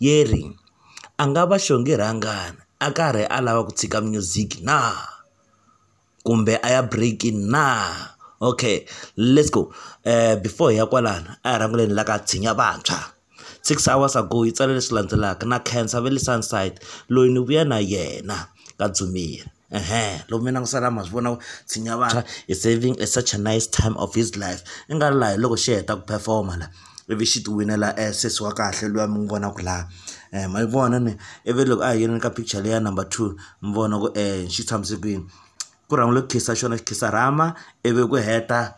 Yeri, A nga va xonge rhangana a karhi a lava ku tshika music na? Kumbe a ya break-ini na? Okay let's go before hi ya kwalano a hi rhangeni hi la ka tshinya vantshwa, six hours ago yi tsale leswi landzelaka na khensa va le Sunside loyi ni vuya na yena ka Dzumeri. ehe loko mi langutisana ma swi vona ku tshinya vanhu is saving a such a nice time of his life i nga ri laha hi loko xi heta ku perform-a la ivi xi ti winela sesi wa kahle luya mi n'wi vonaka laha um ma yi vona ni ivi loko a hi yini ka picture leya number two mi vona ku um xi tshamise kwini ku rhangiwile ku khisa xona xi khisa rhama ivi ku heta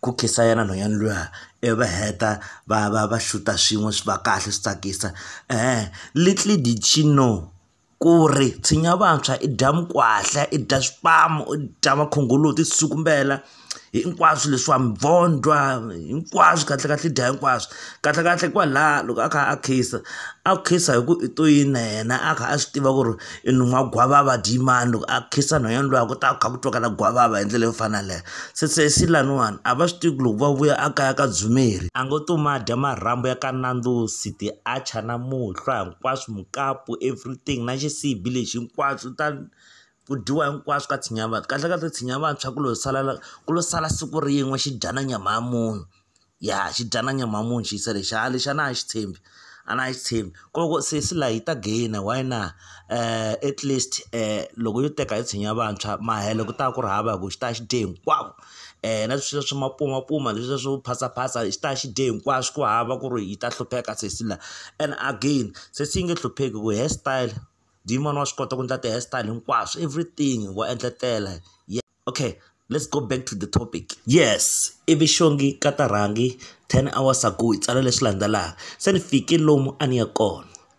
ku khisa yena nhwanyana luya ivi va heta va va va xuta swin'we swi va kahle swi tsakisa um little did she know. ku ri tshinya vantshwa i dya mikwahla i dya swipamu u dya makhongoloti switsukumbela hinkwaswo leswiwa mavondzwa hinkwaswo kahlekahle i dya hinkwaswo kahlekahle kwalaho loko a kha a khisa a khisa hi ku i to yini na yena a kha a swi tiva ku ri i nun'hwa gwavava dyi mani loko a khisa nhwanyana luya ku ta kha ku twakala gwavava hi ndlela yo fana na yaleyo se se se laniwani a va swi tivi ku loko va vuya a kaya ka dzumeri a ngo to ma dya marhambu ya ka Nandzosithi a chana muhlwa. hinkwaswo mukapu everything na xisibi lexi hinkwaswo ta ku dyiwa hinkwaswo ka tshinya ya vantshwa kahle kahle tshinya ya vantshwa ku lo sala ku lo sala siku rin'we xi dya na nyama ya munhu ya xi dya na nyama ya munhu xi yisa lexi ha lexi a na ha xi tshembi a na ha xi tshembi ko loko sesi la yi ta gainer why na at least loko yo teka hi tshinya ya vantshwa mahelo ku ta ku ri hava hi ku xi ta xi dye hinkwavo. um na swilo swa mapumapuma leswiya swo phasaphatsa xi ta xi dye hinkwaswo ku hava ku ri yi ta hlupheka sesi la and again sesi yi nge hlupheki hi ku hair style muyimana wa swi kota ku endla ti-hair style hinkwaswo everything wa endletela okay let's go back to the topic yes ivi xongi ka ta rhangi ten hours ago hi tsala leswi landzelaka se ni fike lomu a ni ya kona.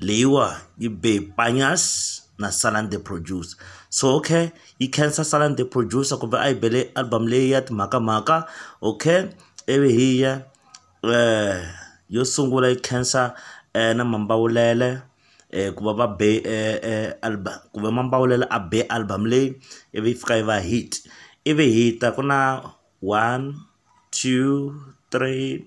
Leyiwa yi be hi Panjaz na Salan the Producer. So okay, yi khensa Salan the Producer kumbe a yi bele album leyi ya timhakamhaka. Okay, ivi hi ya yo sungula yi khensa na Mambawulele ku va va be album kumbe Mambawulele a be album leyi, ivi yi fika yi va hit. Ivi hi ta ku na one, two, three,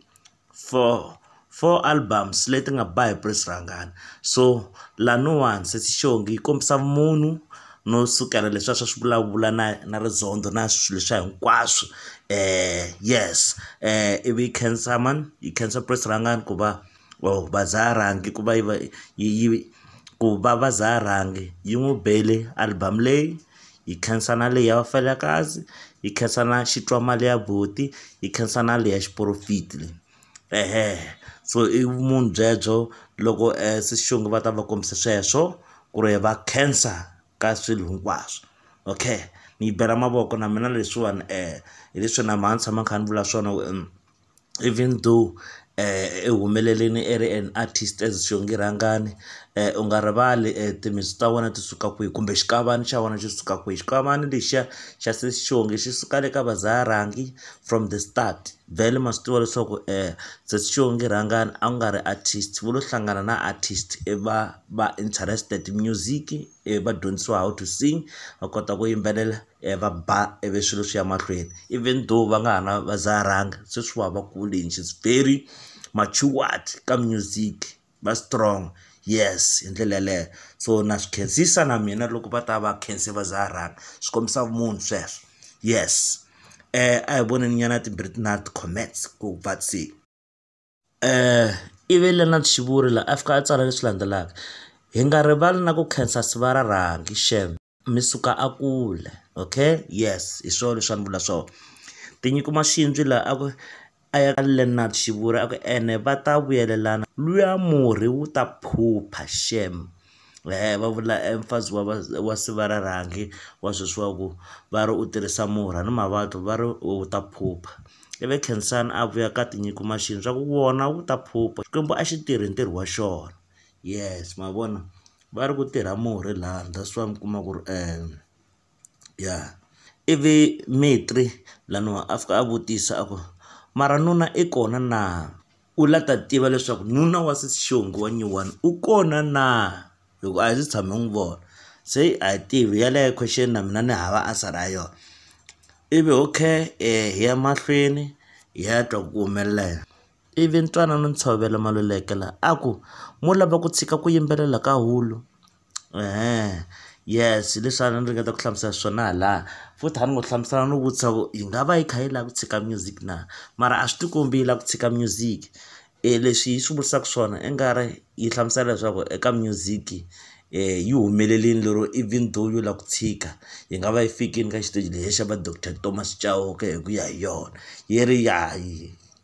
four four albums leti nga ba hi Prince Rhangani so laniwani Sesi Xongi yi kombisa vumunhu no sukela leswiya swa swi vulavula na na rizondho na swilo leswiya hinkwaswo yes ivi yi khensa mani yi khensa Prince Rhangani ku va or va za rhangi ku va yi va yi yi ku va va za rhangi yi n'wi bele album leyi. hi khensa na leyi ya vafelakazi hi khensa na xitwa mali ya buti hi khensa na leyi ya xiporofidi leyi ehehe so i vumunhu byebyo loko se xintu va ta va kombisa sweswo ku ri va khensa ka swilo hinkwaswo okay mi yi bela mavoko na mina leswiwani hi leswi na mhani tshama kha ni vula swona . even though i humelelini i ri an artist as xiongi rhangani u nga rivali timitsu ta wena ti suka kwihi kumbe xikavana xa wena xi suka kwihi xikavana lexiya xa sesi xihongi xi suka le ka va Zaya Rangi from the start vhele ma swi tiva leswaku sesi xihongi rhangani a ku nga ri artist vo lo hlangana na artist i va va interested music i va dyondzisiwa how to sing va kota ku yimbelela. va ba ivi swilo swi ya mahlweni even though va nga ha na va dzaha rhanga sweswiwa va kule and she is very matured ka music va strong yes hi ndlela yeleyo so na swi khensisa na mina loko va ta va khense va dzaha rhanga swi kombisa vumunhu sweswo yes a hi voneni nyana timbirhi na ti-comments ku va se ivi Leonard Shivuri la a fika a tsala leswi landzelaka hi nga rivali na ku khensa siva ra rhangi shame. mi suka a kule okay yes hi swona leswi a ni vula swona tinyiko maxindzwi laha a ku a ya ka Leonard Xivuri a ku ene va ta vuyelelana luya murhi wu ta phupha shem eh va vula eh, mfazi wa wa sivara rhangi wa sweswi wa ku va ri u tirhisa murhi a ni mavabyi va ri wu ta phupha ivi khensani a vuya ka tinyiko maxindzwi a ku wona wu ta phupha xikwembu a xi tirhi ntirho wa xona yes ma vona va ri ku tirha murhi laha that's why mi kuma ku ri ya ivi Metri laniwa a fika a vutisa a ku mara nuna i kona na u la ta tiva leswaku nuna wa sesi xingu wa nyuwani u kona na hi ku a hi se tshama hi n'wi vona se a hi tivi yaleyo question na mina ni hava answer ya yona ivi okay hi ya mahlweni hi ya twa ku humelela yini. Ivi Ntwanano Ntshovelo Malulekela a ku, Mo lava ku tshika ku yimbelela ka hulu? Eeh, yes, hi leswi a ni ringeta ku hlamusela swona halaya. Futhi a ni ngo hlamusela no vutisa ku yi nga va yi kha yi lava ku tshika music na? Mara a swi ti kombi yi lava ku tshika music. Leswi yi swi vutisaka swona i nga ri yi hlamusela leswaku eka music yi humelerile lero even though yo lava ku tshika, yi nga va yi fikile ka xiteji lexiya va doctor Thomas Chauke hi ku ya hi yona, yi ri ya .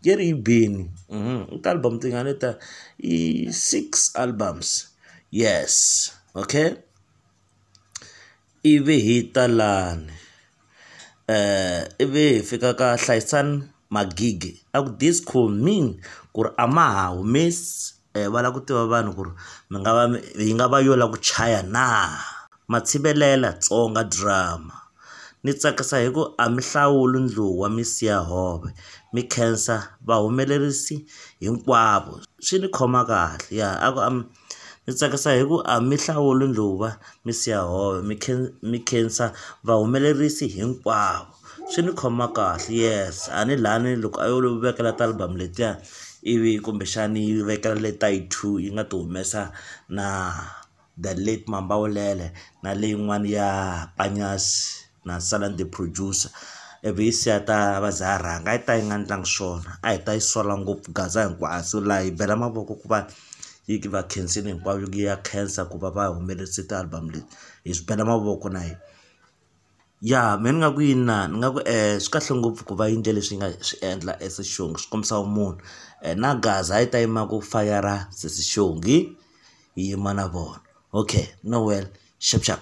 Jerry Beni mhm, i ti-album tingani ta i six albums yes okay ivi hi ta lani um ivi hi fika ka hlayisani magigi a ku disco min ku ri a ma ha humesi um va lava ku tiva vanhu ku ri mi nga va mi yi nga va yo lava ku chaya na. Matshivelela, Tsonga drama, Ni tsakisa hi ku a mi hlawuli ndluwa mi siya hove, mi khensa vahumelerisi hinkwavo. Swi ni khoma kahle. Ya a ku ni tsakisa hi ku a mi hlawuli ndluwa mi siya hove, mi mi khensa vahumelerisi hinkwavo. swi ni khoma kahle yes a ni lani loko a yo vekela ti-album letiya ivi kumbexani yi vekela le ta yi two yi nga ti humesa na the late Mambawulele na leyin'wani ya Panyazi na Salani The Producer ivi yi siya ta va za ha rhanga a yi ta yi nga ndlangi swona a hi ta yi sola ngopfu Gaza hinkwabyo laha hi bela mavoko ku va yi va khensile hinkwavo yi ya khensa ku va va humelelise ti-album leti hi swi bela mavoko na hina. Ya mehe ni nga ku inana ni nga ku swi kahle ngopfu ku va yindle leswi yi nga swi endla as xongi swi kombisa vumunhu na gaza a yi ta yima ku fayara sesi xongi yi yima na vona okay no well xap xap.